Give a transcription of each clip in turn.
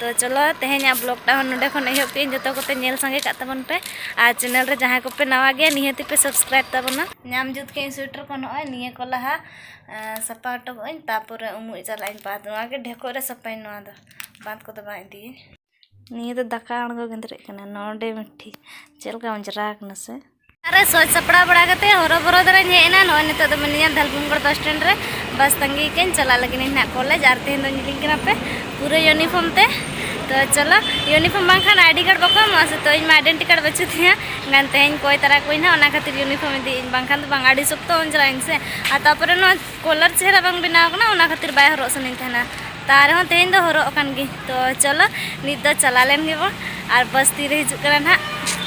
ᱛᱚ ᱪᱚᱞᱚ ᱛᱮᱦᱮᱧᱟᱜ ᱵᱞᱚᱜᱽᱴᱟ ᱦᱚᱸ ᱱᱚᱰᱮ ᱠᱷᱚᱱ ᱮᱦᱚᱵ ᱠᱮᱜ ᱟᱹᱧ ᱡᱚᱛᱚ ᱠᱚᱯᱮ ᱧᱮᱞ ᱥᱟᱸᱜᱮ ᱠᱟᱜ ᱛᱟᱵᱚᱱ ᱯᱮ ᱟᱨ ᱪᱮᱱᱮᱞ ᱨᱮ ᱡᱟᱦᱟᱸᱭ ᱠᱚᱯᱮ ᱱᱟᱣᱟ ᱜᱮᱭᱟ ᱱᱤᱦᱟᱹᱛᱤ ᱯᱮ ᱥᱟᱵᱥᱠᱨᱟᱭᱤᱵ ᱛᱟᱵᱚᱱᱟ ᱧᱟᱢ ᱡᱩᱛ ᱠᱮᱜ ᱟᱹᱧ ᱥᱩᱭᱮᱴᱟᱨ ᱠᱚ ᱱᱚᱜᱼᱚᱭ ᱱᱤᱭᱟᱹ ᱠᱚ ᱞᱟᱦᱟ ᱥᱟᱯᱟ ᱦᱚᱴᱚ ᱠᱟᱜ ᱟᱹᱧ ᱛᱟᱨᱯᱚᱨᱮ ᱩᱢᱩᱜ ᱪᱟᱞᱟᱜ ᱟᱹᱧ ᱵᱟᱸᱫᱽ ᱱᱚᱣᱟ ᱜᱮ ᱰᱷᱮᱠᱚᱡ ᱨᱮ ᱥᱟᱯᱟᱭᱟᱹᱧ ᱱᱚᱣᱟ ᱫᱚ ᱵᱟᱸᱫᱽ ᱠᱚᱫᱚ ᱵᱟᱝ ᱤᱫᱤᱭᱟᱹᱧ ᱱᱤᱭᱟᱹ ᱫᱚ ᱫᱟᱠᱟ ᱟᱬᱜᱚ ᱜᱮᱸᱫᱽᱨᱮᱡ ᱠᱟᱱᱟ ᱱᱚᱰᱮ ᱢᱤᱫᱴᱷᱤ ᱪᱮᱫ ᱞᱮᱠᱟ ᱚᱸᱡᱽᱨᱟ ᱠᱟᱱᱟ ᱥᱮ ᱨᱮ ᱥᱚᱡᱽ ᱥᱟᱯᱲᱟᱣ ᱵᱟᱲᱟ ᱠᱟᱛᱮ ᱦᱚᱨᱚ ᱵᱚᱨᱚ ᱫᱟᱨᱟᱧ ᱦᱮᱡ ᱮᱱᱟ ᱱᱚᱜᱼᱚᱭ ᱱᱤᱛᱚᱜ ᱫᱚ ᱢᱤᱱᱟᱹᱧᱟ ᱫᱷᱟᱞᱵᱷᱩᱢᱜᱚᱲ ᱵᱟᱥ ᱥᱴᱮᱱᱰ ᱨᱮ ᱵᱟᱥ ᱛᱟᱺᱜᱤ ᱠᱟᱹᱧ ᱪᱟᱞᱟᱜ ᱞᱟᱹᱜᱤᱫ ᱤᱧ ᱦᱟᱸᱜ ᱠᱚᱞᱮᱡᱽ ᱟᱨ ᱛᱮᱦᱮᱧ ᱫᱚᱧ ᱤᱫᱤᱧ ᱠᱟᱱᱟ ᱯᱮ ᱯᱩᱨᱟᱹ ᱤᱭᱩᱱᱤᱯᱷᱚᱨᱢ ᱛᱮ ᱛᱚ ᱪᱚᱞᱚ ᱤᱭᱩᱱᱤᱯᱷᱚᱨᱢ ᱵᱟᱝᱠᱷᱟᱱ ᱟᱭᱰᱤ ᱠᱟᱨᱰ ᱵᱟᱠᱚ ᱮᱢᱚᱜᱼᱟ ᱥᱮ ᱛᱚ ᱤᱧ ᱢᱟ ᱟᱭᱰᱮᱱᱴᱤ ᱠᱟᱨᱰ ᱵᱟᱹᱪᱩᱜ ᱛᱤᱧᱟ ᱮᱱᱠᱷᱟᱱ ᱛᱮᱦᱮᱧ ᱠᱚᱭ ᱛᱟᱨᱟ ᱠᱚᱣᱟᱹᱧ ᱦᱟᱸᱜ ᱚᱱᱟ ᱠᱷᱟᱹᱛᱤᱨ ᱤᱭᱩᱱᱤᱯᱷᱚᱨᱢ ᱤᱫᱤᱭᱟᱹᱧ ᱵᱟᱝᱠᱷᱟᱱ ᱫᱚ ᱵᱟᱝ ᱟᱹᱰᱤ ᱥᱚᱠᱛᱚ ᱚᱱ ᱪᱟᱞᱟᱜ ᱟᱹᱧ ᱥᱮ ᱟᱨ ᱛᱟᱨᱯᱚᱨᱮ ᱱᱚᱣᱟ ᱠᱚᱞᱟᱨ ᱪᱮᱦᱨᱟ ᱵᱟᱝ ᱵᱮᱱᱟᱣ ᱠᱟᱱᱟ ᱚᱱᱟ ᱠᱷᱟᱹᱛᱤᱨ ᱵᱟᱭ ᱦᱚᱨᱚᱜ ᱥᱟᱱᱟᱧ ᱛᱟᱦᱮᱱᱟ ᱛᱟ ᱨᱮᱦᱚᱸ ᱛᱮᱦᱮᱧ ᱫᱚ ᱦᱚᱨᱚᱜ ᱟᱠᱟᱱ ᱜᱤᱧ ᱛᱚ ᱪᱚᱞᱚ ᱱᱤᱛ ᱫᱚ ᱪᱟᱞᱟᱣ ᱞᱮᱱ ᱜᱮᱵᱚᱱ ᱟᱨ ᱵᱟᱥ ᱛᱤᱨᱮ ᱦᱤᱡᱩᱜ ᱠᱟᱱᱟ ᱱᱟᱦᱟᱜ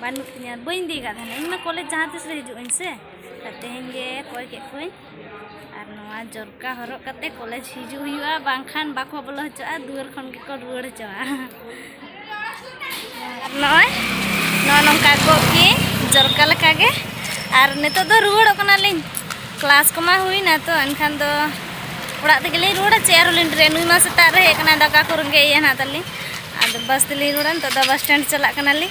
ᱵᱟᱹᱱᱩᱜ ᱛᱤᱧᱟᱹ ᱵᱟᱹᱧ ᱤᱫᱤ ᱟᱠᱟᱫ ᱛᱟᱦᱮᱱᱟ ᱤᱧᱢᱟ ᱠᱚᱞᱮᱡᱽ ᱡᱟᱦᱟᱸ ᱛᱤᱥ ᱨᱮ ᱦᱤᱡᱩᱜ ᱟᱹᱧ ᱥᱮ ᱟᱨ ᱛᱮᱦᱮᱧ ᱜᱮ ᱠᱚᱭ ᱠᱮᱫ ᱠᱚᱣᱟᱹᱧ ᱟᱨ ᱱᱚᱣᱟ ᱡᱚᱨᱠᱟ ᱦᱚᱨᱚᱜ ᱠᱟᱛᱮ ᱠᱚᱞᱮᱡᱽ ᱦᱤᱡᱩᱜ ᱦᱩᱭᱩᱜᱼᱟ ᱵᱟᱝᱠᱷᱟᱱ ᱵᱟᱠᱚ ᱵᱚᱞᱚ ᱦᱚᱪᱚᱜᱼᱟ ᱫᱩᱣᱟᱹᱨ ᱠᱷᱚᱱ ᱜᱮᱠᱚ ᱨᱩᱣᱟᱹᱲ ᱦᱚᱪᱚᱜᱼᱟ ᱟᱨ ᱱᱚᱜᱼᱚᱭ ᱱᱚᱜᱼᱚ ᱱᱚᱝᱠᱟ ᱜᱚᱜ ᱠᱤᱭᱟᱹᱧ ᱡᱚᱨᱠᱟ ᱞᱮᱠᱟᱜᱮ ᱟᱨ ᱱᱤᱛᱚᱜ ᱫᱚ ᱨᱩᱣᱟᱹᱲᱚᱜ ᱠᱟᱱᱟᱞᱤᱧ ᱠᱞᱟᱥ ᱠᱚᱢᱟ ᱦᱩᱭᱱᱟ ᱛᱚ ᱮᱱᱠᱷᱟᱱ ᱫᱚ ᱚᱲᱟᱜ ᱛᱮᱜᱮ ᱞᱤᱧ ᱨᱩᱣᱟᱹᱲᱟ ᱪᱮᱫ ᱟᱨᱚ ᱞᱤᱧ ᱰᱨᱮ ᱱᱩᱭ ᱢᱟ ᱥᱮᱛᱟᱜ ᱨᱮ ᱦᱮᱡ ᱠᱟᱱᱟ ᱫᱟᱠᱟ ᱠᱚ ᱨᱮᱸᱜᱮᱡ ᱮᱭᱟ ᱱᱟᱜ ᱛᱟᱹᱞᱤᱧ ᱟᱫᱚ ᱵᱟᱥ ᱛᱮᱞᱤᱧ ᱨᱩᱣᱟᱹᱲᱟ ᱱᱤᱛᱚᱜ ᱫᱚ ᱵᱟᱥ ᱥᱴᱮᱱᱰ ᱪᱟᱞᱟᱜ ᱠᱟᱱᱟᱞᱤᱧ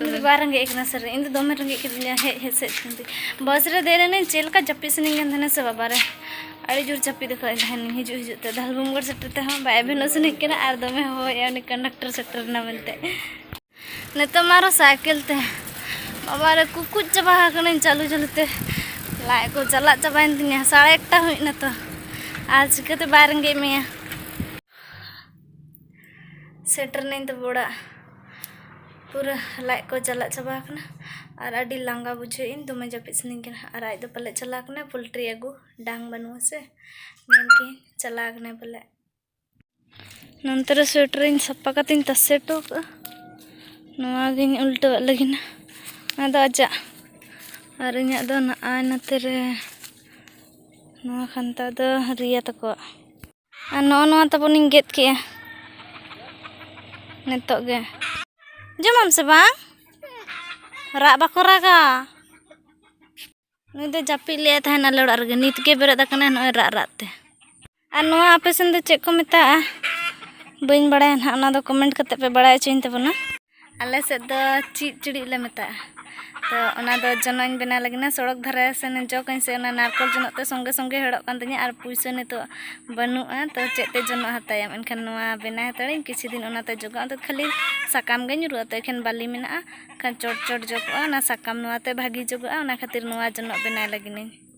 ᱤᱧᱫᱚ ᱵᱟᱭ ᱨᱮᱸᱜᱮᱡ ᱠᱟᱱᱟ ᱥᱟᱨ ᱤᱧᱫᱚ ᱫᱚᱢᱮ ᱨᱮᱸᱜᱮᱡ ᱠᱤᱫᱤᱧᱟ ᱦᱮᱡ ᱦᱮᱡ ᱥᱮᱫ ᱠᱷᱚᱱᱛᱮ ᱵᱟᱥ ᱨᱮ ᱫᱮᱡ ᱞᱮᱱᱟᱹᱧ ᱪᱮᱫ ᱞᱮᱠᱟ ᱡᱟᱹᱯᱤᱫ ᱥᱟᱹᱱᱟᱹᱧ ᱠᱟᱱ ᱛᱟᱦᱮᱱᱟ ᱥᱮ ᱵᱟᱵᱟ ᱨᱮ ᱟᱹᱰᱤ ᱡᱳᱨ ᱡᱟᱹᱯᱤᱫ ᱟᱠᱟᱫ ᱛᱟᱦᱮᱱᱤᱧ ᱦᱤᱡᱩᱜ ᱦᱤᱡᱩᱜ ᱛᱮ ᱫᱷᱟᱞᱵᱷᱩᱢᱜᱚᱲ ᱥᱮᱴᱮᱨ ᱛᱮᱦᱚᱸ ᱵᱟᱭ ᱮᱵᱷᱮᱱᱚᱜ ᱥᱟᱹᱱᱟᱹᱧ ᱠᱟᱱᱟ ᱟᱨ ᱫᱚᱢᱮ ᱦᱚᱦᱚᱭᱮᱫᱼᱟ ᱩᱱᱤ ᱠᱚᱱᱰᱟᱠᱴᱚᱨ ᱥᱮᱴᱮᱨ ᱮᱱᱟ ᱢᱮᱱᱛᱮ ᱱᱤᱛᱚᱜ ᱢᱟ ᱟᱨᱚ ᱥᱟᱭᱠᱮᱞ ᱛᱮ ᱵᱟᱵᱟ ᱨᱮ ᱠᱩᱠᱩᱡ ᱪᱟᱵᱟ ᱟᱠᱟᱱᱟᱹᱧ ᱪᱟᱹᱞᱩ ᱪᱟᱹᱞᱩ ᱛᱮ ᱞᱟᱡ ᱠᱚ ᱪᱟᱞᱟᱜ ᱪᱟᱵᱟᱭᱮᱱ ᱛᱤᱧᱟ ᱥᱟᱲᱮ ᱮᱠᱴᱟ ᱦᱩᱭ ᱮᱱᱟ ᱛᱚ ᱟᱨ ᱪᱤᱠᱟᱹᱛᱮ ᱵᱟᱭ ᱨᱮᱸᱜᱮᱡ ᱢᱮᱭᱟ ᱥᱮᱴᱮᱨ ᱱᱟᱹᱧ ᱛᱚᱵᱮ ᱚᱲᱟᱜ ᱯᱩᱨᱟᱹ ᱞᱟᱡ ᱠᱚ ᱪᱟᱞᱟᱜ ᱪᱟᱵᱟ ᱟᱠᱟᱱᱟ ᱟᱨ ᱟᱹᱰᱤ ᱞᱟᱸᱜᱟ ᱵᱩᱡᱷᱟᱹᱣ ᱤᱧ ᱫᱚᱢᱮ ᱡᱟᱹᱯᱤᱫ ᱥᱟᱱᱟᱧ ᱠᱟᱱᱟ ᱟᱨ ᱟᱡ ᱫᱚ ᱯᱟᱞᱮ ᱪᱟᱞᱟᱣ ᱠᱟᱱᱟᱭ ᱯᱳᱞᱴᱨᱤ ᱟᱹᱜᱩ ᱰᱟᱝ ᱵᱟᱹᱱᱩᱜ ᱟᱥᱮ ᱢᱮᱱ ᱠᱤᱧ ᱪᱟᱞᱟᱣ ᱠᱟᱱᱟᱭ ᱯᱟᱞᱮ ᱱᱚᱱᱛᱮ ᱨᱮ ᱥᱩᱭᱮᱴᱟᱨ ᱤᱧ ᱥᱟᱯᱟ ᱠᱟᱛᱮᱧ ᱛᱟᱥᱮ ᱦᱚᱴᱚ ᱠᱟᱜᱼᱟ ᱱᱚᱣᱟ ᱜᱤᱧ ᱩᱞᱴᱟᱹᱣᱟᱜ ᱞᱟᱹᱜᱤᱫ ᱟᱫᱚ ᱟᱡᱟᱜ ᱟᱨ ᱤᱧᱟᱹᱜ ᱫᱚ ᱱᱟᱜᱼᱟᱭ ᱱᱚᱛᱮ ᱨᱮ ᱱᱚᱣᱟ ᱠᱷᱟᱱᱛᱟ ᱫᱚ ᱨᱤᱭᱟ ᱛᱟᱠᱚᱣᱟᱜ ᱟᱨ ᱱᱚᱜᱼᱚ ᱱᱚᱣᱟ ᱛᱟᱵᱚᱱᱤᱧ ᱜᱮᱫ ᱠᱮᱜᱼᱟ ᱱᱤᱛᱚᱜ ᱜᱮ ᱡᱚᱢᱟᱢ ᱥᱮ ᱵᱟᱝ ᱨᱟᱜ ᱵᱟᱠᱚ ᱨᱟᱜᱟ ᱱᱩᱭ ᱫᱚ ᱡᱟᱹᱯᱤᱫ ᱞᱮᱫᱟᱭ ᱛᱟᱦᱮᱱ ᱟᱞᱮ ᱚᱲᱟᱜ ᱨᱮᱜᱮ ᱱᱤᱛ ᱜᱮ ᱵᱮᱨᱮᱫ ᱟᱠᱟᱱᱟᱭ ᱱᱚᱜᱼᱚᱭ ᱨᱟᱜ ᱨᱟᱜ ᱛᱮ ᱟᱨ ᱱᱚᱣᱟ ᱟᱯᱮ ᱥᱮᱱ ᱫᱚ ᱪᱮᱫ ᱠᱚ ᱢᱮᱛᱟᱜᱼᱟ ᱵᱟᱹᱧ ᱵᱟᱲᱟᱭᱟ ᱱᱟᱦᱟᱜ ᱚᱱᱟ ᱫᱚ ᱠᱚᱢᱮᱱᱴ ᱠᱟᱛᱮᱫ ᱯᱮ ᱵᱟᱲᱟᱭ ᱦᱚᱪᱚᱧ ᱛᱟᱵᱚᱱᱟ ᱟᱞᱮ ᱥᱮᱫ ᱫᱚ ᱪᱮᱫ ᱪᱤᱲᱤᱡ ᱞᱮ ᱢᱮᱛᱟᱜᱼᱟ ᱛᱚ ᱚᱱᱟ ᱫᱚ ᱡᱚᱱᱚᱜ ᱤᱧ ᱵᱮᱱᱟᱣ ᱞᱟᱹᱜᱤᱫ ᱥᱚᱲᱚᱠ ᱫᱷᱟᱨᱮ ᱥᱮᱱ ᱡᱚᱜᱽ ᱟᱹᱧ ᱥᱮ ᱚᱱᱟ ᱱᱟᱨᱠᱳᱞ ᱡᱚᱱᱚᱜ ᱛᱮ ᱥᱚᱸᱜᱮ ᱥᱚᱸᱜᱮ ᱦᱮᱲᱚᱜ ᱠᱟᱱ ᱛᱤᱧᱟᱹ ᱟᱨ ᱯᱩᱭᱥᱟᱹ ᱱᱤᱛᱚᱜ ᱵᱟᱹᱱᱩᱜᱼᱟ ᱛᱚ ᱪᱮᱫ ᱛᱮ ᱡᱚᱱᱚᱜ ᱦᱟᱛᱟᱭᱟᱢ ᱮᱱᱠᱷᱟᱱ ᱱᱚᱣᱟ ᱵᱮᱱᱟᱣ ᱦᱟᱛᱟᱲᱟᱹᱧ ᱟᱨ ᱠᱤᱪᱷᱩ ᱫᱤᱱ ᱚᱱᱟᱛᱮ ᱡᱚᱜᱟᱜᱼᱟ ᱟᱫᱚ ᱠᱷᱟᱹᱞᱤ ᱥᱟᱠᱟᱢ ᱜᱮ ᱧᱩᱨᱩᱜᱼᱟ ᱛᱚ ᱮᱠᱷᱮᱱ ᱵᱟᱹᱞᱤ ᱢᱮᱱᱟᱜᱼᱟ ᱮᱱᱠᱷᱟᱱ ᱪᱚᱴ ᱪᱚᱴ ᱡᱚᱜᱚᱜᱼᱟ ᱚᱱᱟ ᱥᱟᱠᱟᱢ ᱱᱚᱣᱟᱛᱮ ᱵᱷᱟᱹᱜᱤ ᱡᱚᱜᱚᱜᱼᱟ ᱚᱱᱟ ᱠᱷᱟᱹᱛᱤᱨ ᱱᱚᱣᱟ ᱡᱚᱱᱚᱜ ᱵᱮᱱᱟᱣ ᱞᱟᱹᱜᱤᱫ ᱤᱧ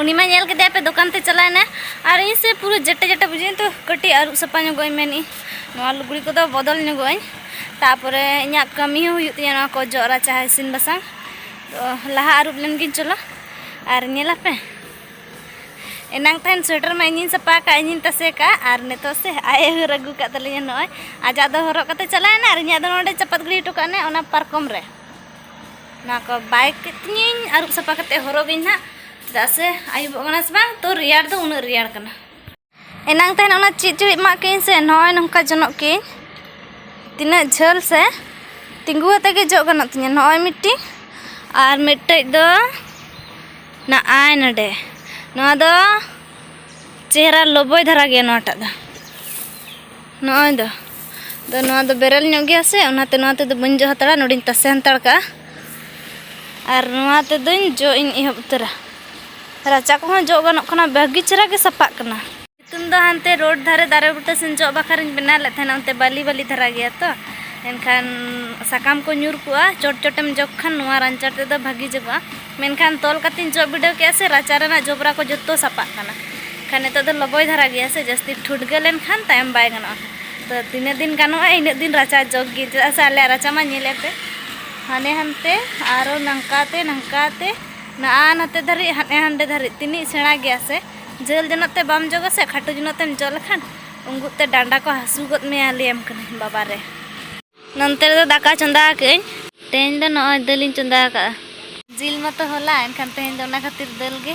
ᱩᱱᱤ ᱢᱟ ᱧᱮᱞ ᱠᱮᱫᱮᱭᱟ ᱯᱮ ᱫᱚᱠᱟᱱ ᱛᱮ ᱪᱟᱞᱟᱣ ᱮᱱᱟ ᱟᱨ ᱤᱧ ᱥᱮ ᱯᱩᱨᱟᱹ ᱡᱮᱴᱟ ᱡᱮᱴᱟ ᱵᱩᱡᱷᱟᱹᱣ ᱛᱚ ᱠᱟᱹᱴᱤᱡ ᱟᱹᱨᱩᱵ ᱥᱟᱯᱷᱟ ᱧᱚᱜᱚᱜ ᱟᱹᱧ ᱢᱮᱱᱮᱫ ᱱᱚᱣᱟ ᱞᱩᱜᱽᱲᱤ ᱠᱚᱫᱚ ᱵᱚᱫᱚᱞ ᱧᱚᱜᱚᱜ ᱟᱹᱧ ᱛᱟᱯᱚᱨᱮ ᱤᱧᱟᱹᱜ ᱠᱟᱹᱢᱤ ᱦᱚᱸ ᱦᱩᱭᱩᱜ ᱛᱤᱧᱟᱹ ᱱᱚᱣᱟ ᱠᱚ ᱡᱚᱜ ᱨᱟᱪᱟ ᱤᱥᱤᱱ ᱵᱟᱥᱟᱝ ᱛᱚ ᱞᱟᱦᱟ ᱟᱹᱨᱩᱵ ᱞᱮᱱ ᱜᱤᱧ ᱪᱚᱞᱚ ᱟᱨ ᱧᱮᱞ ᱟᱯᱮ ᱮᱱᱟᱝ ᱛᱟᱦᱮᱱ ᱥᱩᱭᱮᱴᱟᱨ ᱢᱟ ᱤᱧᱤᱧ ᱥᱟᱯᱷᱟ ᱟᱠᱟᱫ ᱤᱧᱤᱧ ᱛᱟᱥᱮ ᱠᱟᱜ ᱟᱨ ᱱᱤᱛᱚᱜ ᱥᱮ ᱟᱡ ᱮ ᱦᱟᱹᱨ ᱟᱹᱜᱩ ᱠᱟᱜ ᱛᱟᱹᱞᱤᱧᱟ ᱱᱚᱜᱼᱚᱭ ᱟᱡᱟᱜ ᱫᱚ ᱦᱚᱨᱚᱜ ᱠᱟᱛᱮ ᱪᱟᱞᱟᱣ ᱮᱱᱟ ᱟᱨ ᱤᱧᱟᱹᱜ ᱫᱚ ᱱᱚᱰᱮ ᱪᱟᱯᱟᱫ ᱜᱤᱰᱤ ᱦᱚᱴᱚ ᱠᱟᱜ ᱚᱱᱟ ᱯᱟᱨᱠᱚᱢ ᱨᱮ ᱱᱚᱣᱟ ᱠᱚ ᱵᱟᱭ ᱠᱟᱛᱤᱧᱟᱹᱧ ᱟᱹᱨᱩᱵ ᱥᱟᱯᱷᱟ ᱠᱟᱛᱮ ᱦᱚᱨᱚᱜ ᱵᱤᱱ ᱦᱟᱸᱜ ᱪᱮᱫᱟᱜ ᱥᱮ ᱟᱹᱭᱩᱵᱚᱜ ᱠᱟᱱᱟ ᱥᱮ ᱵᱟᱝ ᱛᱚ ᱨᱮᱭᱟᱲ ᱫᱚ ᱩᱱᱟᱹᱜ ᱨᱮᱭᱟᱲ ᱠᱟᱱᱟ ᱮᱱᱟᱝ ᱛᱟᱦᱮᱱ ᱚᱱᱟ ᱪᱮᱫ ᱪᱚ ᱮᱢᱟᱜ ᱠᱤᱧ ᱥᱮ ᱱᱚᱜᱼᱚᱭ ᱱᱚᱝᱠᱟ ᱡᱚᱱᱚᱜ ᱠᱤᱧ ᱛᱤᱱᱟᱹᱜ ᱡᱷᱟᱹᱞ ᱥᱮ ᱛᱤᱸᱜᱩ ᱟᱛᱮ ᱜᱮ ᱡᱚᱜ ᱜᱟᱱᱚᱜ ᱛᱤᱧᱟᱹ ᱱᱚᱜᱼᱚᱭ ᱢᱤᱫᱴᱤᱡ ᱟᱨ ᱢᱤᱫᱴᱮᱡ ᱫᱚ ᱱᱚᱜᱼᱚᱭ ᱱᱚᱰᱮ ᱱᱚᱣᱟ ᱫᱚ ᱪᱮᱦᱨᱟ ᱞᱚᱵᱚᱭ ᱫᱷᱟᱨᱟ ᱜᱮᱭᱟ ᱱᱚᱣᱟᱴᱟᱜ ᱫᱚ ᱱᱚᱜᱼᱚᱭ ᱫᱚ ᱫᱚ ᱱᱚᱣᱟ ᱫᱚ ᱵᱮᱨᱮᱞ ᱧᱚᱜ ᱜᱮᱭᱟ ᱥᱮ ᱚᱱᱟᱛᱮ ᱱᱚᱣᱟ ᱛᱮᱫᱚ ᱵᱟᱹᱧ ᱡᱚ ᱦᱟᱛᱟᱲᱟ ᱱᱚᱰᱮᱧ ᱛᱟᱥᱮ ᱦᱟᱛᱟᱲ ᱠᱟᱜᱼᱟ ᱟᱨ ᱱᱚᱣᱟ ᱛᱮᱫᱚᱧ ᱡᱚ ᱤᱧ ᱮᱦᱚᱵ ᱩᱛᱟᱹᱨᱟ ᱨᱟᱪᱟ ᱠᱚᱦᱚᱸ ᱡᱚᱜ ᱜᱟᱱᱚᱜ ᱠᱟᱱᱟ ᱵᱷᱟᱹᱜᱤ ᱪᱮᱦᱨᱟ ᱜᱮ ᱥᱟᱯᱟᱜ ᱠᱟᱱᱟ ᱥᱤᱛᱩᱝ ᱫᱚ ᱦᱟᱱᱛᱮ ᱨᱳᱰ ᱫᱷᱟᱨᱮ ᱫᱟᱨᱮ ᱵᱩᱴᱟᱹ ᱥᱮᱱ ᱡᱚᱜ ᱵᱟᱠᱷᱨᱟᱧ ᱵᱮᱱᱟᱣ ᱞᱮᱫ ᱛᱟᱦᱮᱱᱟ ᱚᱱᱛᱮ ᱵᱟᱹᱞᱤ ᱵᱟᱹᱞᱤ ᱫᱷᱟᱨᱟ ᱜᱮᱭᱟ ᱛᱚ ᱮᱱᱠᱷᱟᱱ ᱥᱟᱠᱟᱢ ᱠᱚ ᱧᱩᱨ ᱠᱚᱜᱼᱟ ᱪᱚᱴ ᱪᱚᱴᱮᱢ ᱡᱚᱜᱽ ᱠᱷᱟᱱ ᱱᱚᱣᱟ ᱨᱟᱧᱪᱟ ᱛᱮᱫᱚ ᱵᱷᱟᱹᱜᱤ ᱡᱚᱜᱚᱜᱼᱟ ᱢᱮᱱᱠᱷᱟᱱ ᱛᱚᱞ ᱠᱟᱛᱮᱧ ᱡᱚᱜ ᱵᱤᱰᱟᱹᱣ ᱠᱮᱫᱼᱟ ᱥᱮ ᱨᱟᱪᱟ ᱨᱮᱱᱟᱜ ᱡᱚᱵᱽᱨᱟ ᱠᱚ ᱡᱚᱛᱚ ᱥᱟᱯᱟᱜ ᱠᱟᱱᱟ ᱠᱷᱟᱱ ᱱᱤᱛᱚᱜ ᱫᱚ ᱞᱚᱵᱚᱭ ᱫᱷᱟᱨᱟ ᱜᱮᱭᱟ ᱥᱮ ᱡᱟᱹᱥᱛᱤ ᱴᱷᱩᱴᱜᱟᱹ ᱞᱮᱱᱠᱷᱟᱱ ᱛᱟᱭᱚᱢ ᱵᱟᱭ ᱜᱟᱱᱚᱜᱼᱟ ᱛᱚ ᱛᱤᱱᱟᱹᱜ ᱫᱤᱱ ᱜᱟᱱᱚᱜᱼᱟ ᱤᱱᱟᱹᱜ ᱫᱤᱱ ᱨᱟᱪᱟ ᱡᱚᱜᱽ ᱜᱮ ᱪᱮᱫᱟᱜ ᱥᱮ ᱟᱞᱮᱭᱟᱜ ᱨᱟᱪᱟ ᱢᱟ ᱧᱮᱞᱮᱫ ᱯᱮ ᱦᱟᱱᱮ ᱦᱟᱱᱛᱮ ᱟᱨᱚ ᱱᱚᱝᱠᱟᱛᱮ ᱱᱚᱝᱠᱟᱛᱮ ᱱᱟᱜᱼᱟ ᱱᱟᱛᱮ ᱫᱷᱟᱹᱨᱤᱡ ᱦᱟᱱᱮ ᱦᱟᱸᱰᱮ ᱫᱷᱟᱹᱨᱤᱡ ᱛᱤᱱᱟᱹᱜ ᱥᱮᱬᱟ ᱜᱮᱭᱟ ᱥᱮ ᱡᱷᱟᱹᱞ ᱡᱚᱱᱚᱜ ᱛᱮ ᱵᱟᱢ ᱡᱚᱜᱟ ᱥᱮ ᱠᱷᱟᱴᱚ ᱡᱚᱱᱚᱜ ᱛᱮᱢ ᱡᱚᱜ ᱞᱮᱠᱷᱟᱱ ᱩᱸᱜᱩᱫ ᱛᱮ ᱰᱟᱸᱰᱟ ᱠᱚ ᱦᱟᱹᱥᱩ ᱜᱚᱫ ᱢᱮᱭᱟ ᱞᱟᱹᱭᱟᱢ ᱠᱟᱹᱱᱟᱹᱧ ᱵᱟᱵᱟ ᱨᱮ ᱱᱚᱱᱛᱮ ᱨᱮᱫᱚ ᱫᱟᱠᱟ ᱪᱚᱸᱫᱟ ᱟᱠᱟᱜᱼᱟᱹᱧ ᱛᱮᱦᱮᱧ ᱫᱚ ᱱᱚᱜᱼᱚᱭ ᱫᱟᱹᱞᱤᱧ ᱪᱚᱸᱫᱟ ᱟᱠᱟᱜᱼᱟ ᱡᱤᱞ ᱢᱟᱛᱚ ᱦᱚᱞᱟ ᱮᱱᱠᱷᱟᱱ ᱛᱮᱦᱮᱧ ᱫᱚ ᱚᱱᱟ ᱠᱷᱟᱹᱛᱤᱨ ᱫᱟᱹᱞ ᱜᱮ